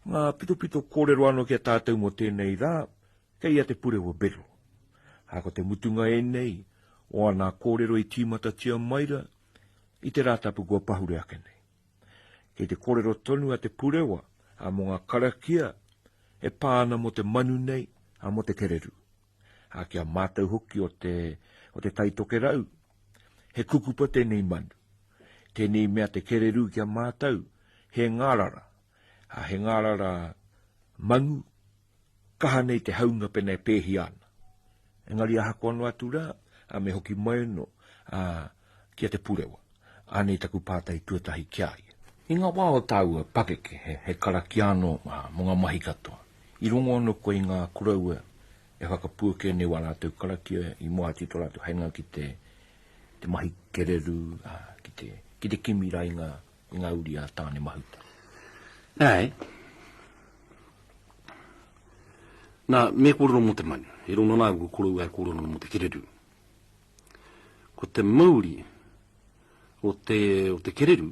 Ngā pitopito kōrero anō ki a tātou mō tēnei rā, kei a Te Purewa Bero. Ā, ko te mutunga ēnei, o anā kōrero i tīmatatia mai ra, i te Rātapu kua pahure ake nei. Kei te kōrero tonu a Te Purewa, a mō ngā karakia, e pā ana mō te manu nei, a mō te kereru. A ki a mātou hoki o te, o te taitokerau, he kukupa tēnei manu. Tēnei mea te kereru ki a mātou, he ngārara, A he ngārara manu, kaha nei te haunga pena e pēhia ana. Engari ahakoa noa atu rā, a me hoki mai anō, a, ki a Te Purewa. Anei taku pātai tuatahi ki a ia. I ngā wā o tāua pakeke, he, he karakia anō, a, mō ngā mahi katoa, i rongo anō koe i ngā koroua e whakapuake nei wā rātou karakia i moe atu i tō rātou hainga ki te, te mahi kereru, a, ki te, ki te kimi rā i ngā I ngā uri a Tāne Mahuta. Āe. Nā, me kōrero mō te manu. He rona nā, ko koroua e kōrero mō te kereru. Ko te mauri o te, o te kereru,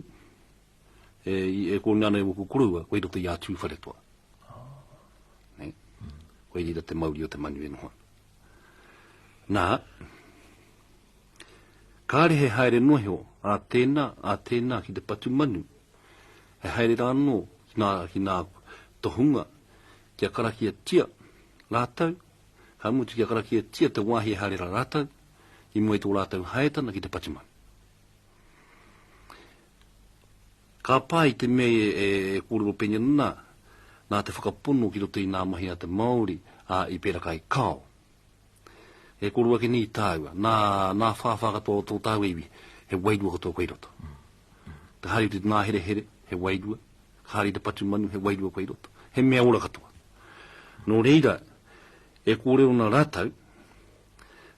e, e kōrero nā, ko koroua, koe roto i a tūwharetoa. Nei. Koe rira te mauri o te manu e noho. Nā, Kāre he haere noa iho a tēnā, a tēnā ki te patu manu, he haere rā anō ki ngā, ki ngā tohunga kia karakiatia rātou, ka mutu kia karakiatia te wāhi e haere rā rātou i mua i tō rātou haetana ki te patu manu. Ka pā i te mea e, e, e kōrero pēnei ana, nā, nā te whakapono ki roto i ngā mahi a te Māori, ā, i pērā kai kao. E koro ake nei tāua, nā, nā whāwhā katoa o tō tāua iwi, he wairua katoa koe i roto. Ka haere te nā here here, he wairua, ka haere te patu manu, he wairua koe i roto. He mea ora katoa. Nō reira, e kōrero nā rātau,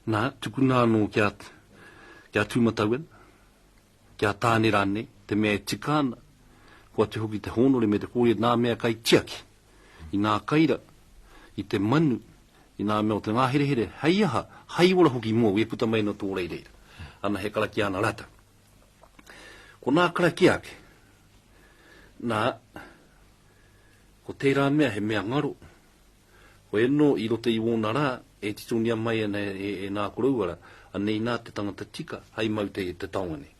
nā, tukuna anō kia, kia tūmatau ana, Ki a Tāne rānei, te mea e tika ana, kua tū hoki te hōnore me te kōia nā mea kai tiaki, i nā kai ra, i te manu, i nā mea o te ngāherehere, hei aha, hai ora hoki mua wē puta mai nō tō rei reira. Ana he karakia ana rātou. Ko nā karakia ake, nā, ko tērā mea he mea ngaro, Koia no i rota i wona ra e titongia mai ana e na koroua ra, anei na te tangata tika hai mau te te taonga nei.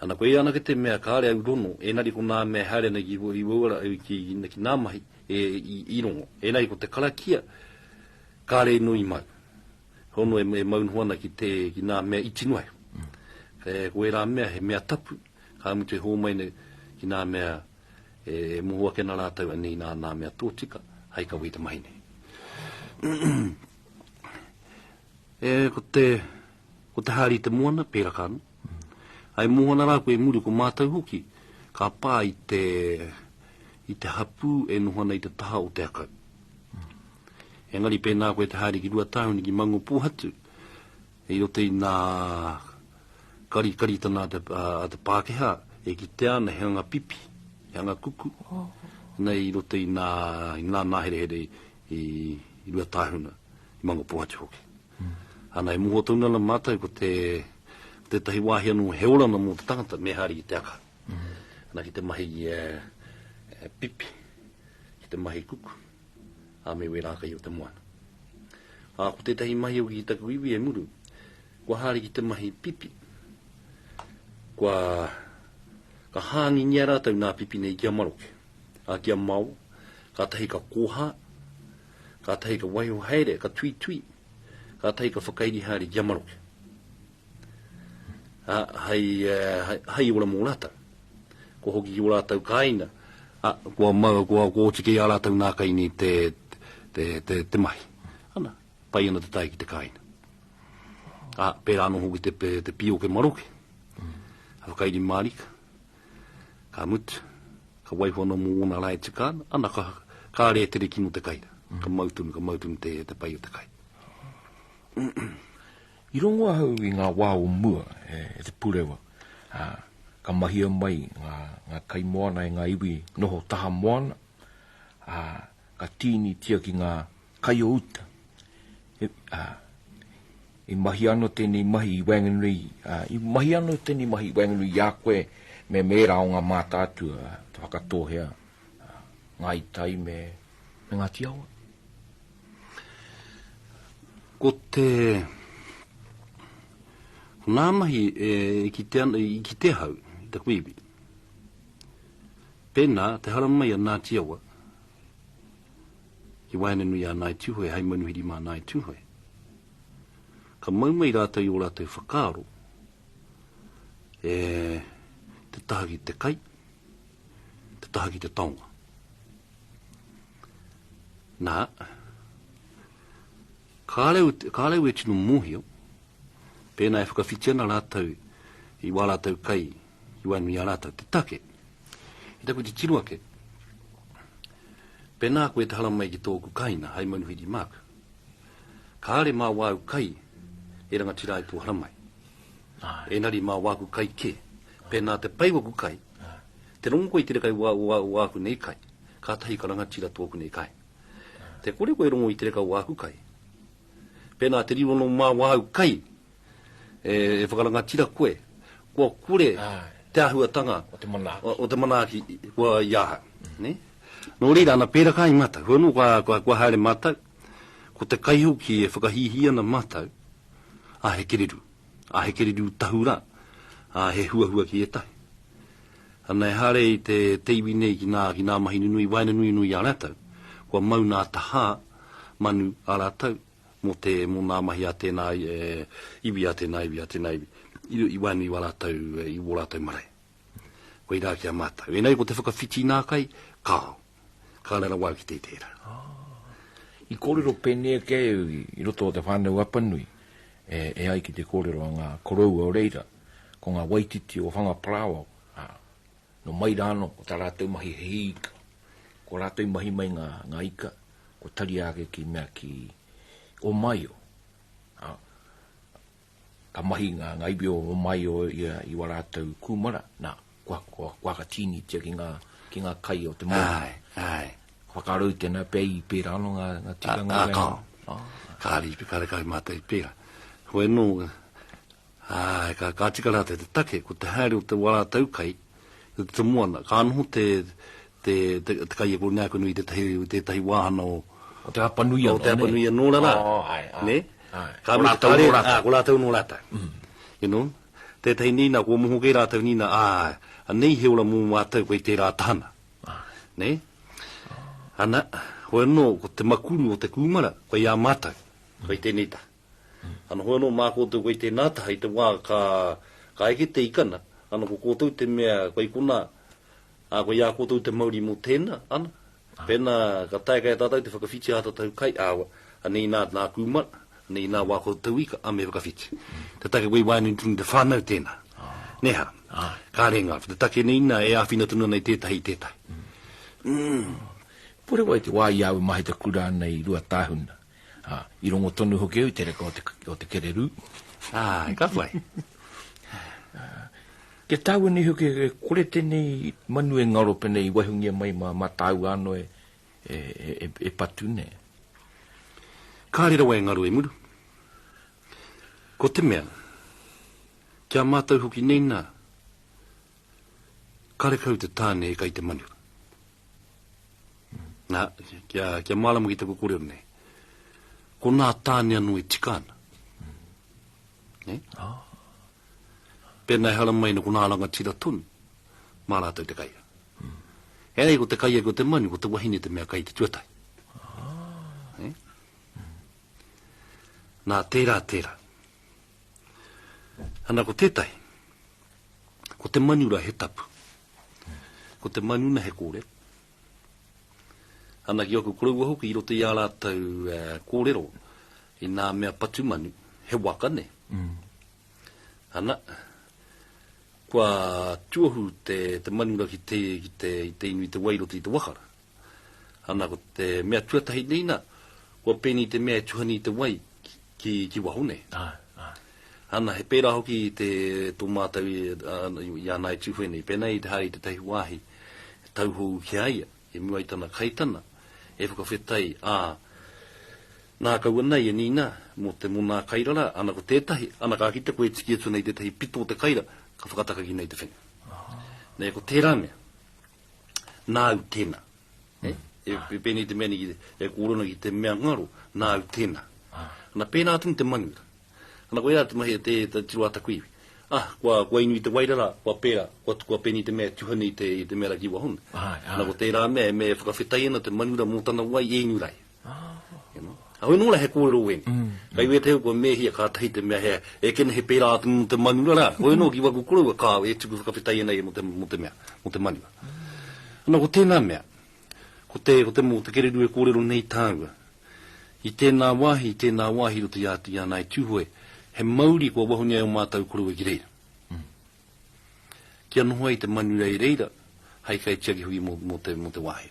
Ana koia anake te mea kare au rono, enari ko na mea e haere ana ki wou ra au ki ki na mahi e i rongo. Enari ko te karakia kare ino i mau. Hono e mau noho ana ki te ki na mea iti noa iho. Koia ra mea he mea tapu, ka mutu e ho mai nei ki na mea E moho ake na ratou a nina ana mea totika hai kawe i te mahi nei. e ko te ko te hari te moana pera ka no. Ai moho na ra ko e muru ko matou hoki ka pa i te i te hapu e noho ana i te taha o te akau. Engari pēnā koe te haere ki Ruatāhuni ki Mangopohatu, I roto i nā karikaritanga a te Pākehā, e kitea ana he anga pipi, he anga kuku, nei i roto i nā, i nā nāherehere i Ruatāhuna, i Mangopōhatu hoki. Ana e moho tonu ana mātou ko te, ko tētahi wāhi anō he oranga mō te tangata, me haere ki te aka. Ana ki te mahi pipi, ki te mahi kuku. a me wērā kai o te moana. Ā, ko tētahi mahi hoki ki taku iwi e muru, kua haere ki te mahi pipi. Kua ka hāngingia rātou nā pipi nei ki a maroke, a ki a mao, ka tahi ka kōhā, ka tahi ka waiho haere, ka tui tui, ka tahi ka whakairi haere ki a maroke. ā, hei, hei ora mō rātou. Kua hoki ki ō rātou kāinga, ā, kua mau, kua, kua oti kē ā rātou nā kai nei te, te, te, te mahi. Ana, pai ana te tae ki te kāinga. Ā, pērā anō hoki te, te pīoke maroke, mm. a whakairi mārika, ka mutu, ka waiho anō mō ōna rā e tika ana, ana ka, ka rē tere kino te kai, mm. ka mautunu, ka mautunu te, te pai o te kai. I rongo ahau i ngā wā o mua e Te Purewa, ā, ka mahia mai ngā kaimoana e ngā iwi noho taha moana, ā, ka tīnitia ki ngā kai o uta, he, ā, i mahia anō tēnei mahi i waenganui, ā, i mahia anō tēnei mahi i waenganui i a koe me mēra o ngā mātātua, te Whakatōhea, ā, Ngāi Tai me Ngāti Awa. Ko te ko ngā mahi e kite ana, i kite ahau, i taku iwi. Pēnā, te hara mai a Ngāti Awa, ki Waenenui a Ngāi Tūhoe, hai manuhiri mā Ngāi Tūhoe. Ka mau mai rātou i o rātou whakaaro, e te taha ki te kai, te taha ki te taonga. Na, kāre, kāre au e tino mōhio, pēnā e whakawhiti ana rātou i wā rātou kai, i wā nui a rātou, te take. I taku te tino ake, pēnā koe te haramai ki tōku kaina, hai manuhiri māk, kāre mā wāu kai e rangatira ai tō haramai. Ai. Enari mā wāku kai kē. Pēnā te pai waku kai, Te rongo koe i te reka i wā, wā, wāku nei kai. Kātahi ka rangatira tōku nei kai. Te kore koe e rongo i te reka o wāku kai. Pēnā te riro nō mā wāu kai e, e whakarangatira koe, kua kore te āhuatanga o te manaaki, o te manaaki kua i ahau. Nei? Nō reira, ana pērā kai mātou. Hoi anō, kua, kua, kua haere mātou, ko te kai hoki e whakahīhī ana mātou, ā, he kereru. A he kereru tahu ra, a he huahua ki etahi. Ana ehare i te te iwi nei ki na ki na mahi nunui waenganui nui a ratou, kua mau na taha manu a ratou mo te mo na mahi a tena iwi a tena iwi a tena iwi i waenganui wa ratou i wo ratou marae. Koirā ki a mātou. Ēnei ko te whakawhiti nā kai, kāo. Ka rara wau ki te tērā. I kōrero pēnei ake au i roto o te whānau Apanui, e, e ai ki te kōrero a ngā koroua o reira, ko ngā waititi o Whangaparāoao, ā, nō mai rā anō, ko tā rātou mahi he hī ika. Ko rātou i mahi mai ngā, ngā ika, kua tari ake ki mea ki Ōmaio. Ā, Ka mahi ngā iwi o Romaio i ō rātou kūmara, nā, kua, kua, kua aka tīnitia ki ngā, ki ngā kai o te moana. Āe, āe. Ka whakaaro i tēnā pea i pērā anō ngā, ngā tikanga o reira. Ā, āe. Kāre i te karekau mātou i pērā. Hoi anō, āe, ka, ka tika rātou te take, ko te haere o te, wā rātou kai, o te moana, ka noho te, te kaiako o Neakanui i tētahi, tētahi wāhana o. O Te Hapanui anō, nē? O Te Hapanui anō rā rā. Oo, āe, āe. Nē? Āe. Ko rātou anō rātou. Āe, ko rātou anō rātou. You know? Tētahi nīnā, kua moho kē rātou nīnā, āe, anei he ora mō mātou kei tērā tahana. Āe. Nē? Ana, hoi anō, ko te makuru o te kūmara, kei a mātou, kei tēnei taha. Ana, hoi anō, mā koutou kei tēnā taha i te wā ka, ka eke te ikana, ana, ko koutou te mea, kei konā, Ā, ko i a koutou te mauri mō tēnā, ana, pēnā ka taea kei a tātou te whakawhiti ā tātou kai, ā, anei nā, nā kūmara, anei nā wā koutou ika, ā, me whakawhiti. Te take wei waenganui tonu i te whānau tēnā. Nē hā? Kāre ngā, ko te take nei nā, e āwhina tonu ana i tētahi, i tētahi. Umm. Kore wai te wā i āu mahi te kura nei i Ruatāhuna? Ā, i rongo tonu hoki au i te reka o te, o te kererū. Ā, ka whai. Ā, kia tāua nei hoki e kore tēnei manu e ngaro pēnei i waihoungia mai mā, mā tāua anō e, e, e, e patu nei. Kāre rawa e ngaro e muru. Ko te mea, ki a mātou hoki nei nā, Karekau te tāne e kai te manu. Nā, kia, kia mārama ki taku korero nei. Ko nā tāne anō e tika ana. Ne? Ah. Pēnā e hara mai na ko nā rangatira tonu, mā rātou te kaia. Mm. E nei ko te kaia ko te manu, ko te wahine te mea kai te tuatai. Ah. Ne? Mm. Nā, tērā, tērā. Ana ko tētahi, ko te manura he tapu, ko te manuna he kōrero. Ana ki aku koroua hoki i roto i a rātou uh, kōrero, i nā mea patu manu, he waka ne. Mm. Ana, kua tuohu te, te manura ki te, ki te, te inu i te wai roto i te wakara. Ana ko te mea tuatahi nei na, kua pēnei te mea e tuhani i te wai ki, ki waho nei. Ai, ai. Ana, he pērā hoki i te, tō mātou i, uh, i ana e tūwhenei, pēnei i te haere i te tahi wāhi, tauhou ki a ia, i mua i tana kaitana, e whakawhetai, ā, ah, nā kaua nei e nīna mō te monā kairara, ana ko tētahi, ana ka kite koe e tiki atu nei tētahi pito o te kaira, ka whakatakaki nei te whenua. Nei, ko tērā mea. nāu tēnā. Eh? E, ah. e pēnei te mea ni, e kōrona ki te mea ngaro, nāu tēnā. Ah. Ana pēnā atu te manu. Ana koe rā te mahi te, te tiro ata kuiwi. Ah, kua, kua inu i te wairara, kua pēra, kua, kua pēnei te mea tuhane i te, i te mea raki wahona. Ah, ah. Ana ko tērā mea, e me whakawhetai ana te manura mō tana wai e inu rai. Ahau nō la he kōrero wēne. Mm. Kai wē teo kua mēhia kātahi te mea hea, e kene he pērā atu mō te manura rā. Koe nō ki waku koroua kāo e tuku whakawhetai ana ia mō te, mō te mea, mō te manura. Ana ko tēnā mea, ko te, ko te mō te kereru e kōrero nei tāua. I tēnā wāhi, i tēnā wāhi roto i āti ana i Tūhoe, he mauri kua wahungia e o mātau koroua ki reira. Mm. Kia noho ai te manura i reira, hai kai tiaki hui mō, mō te, mō te wāhi.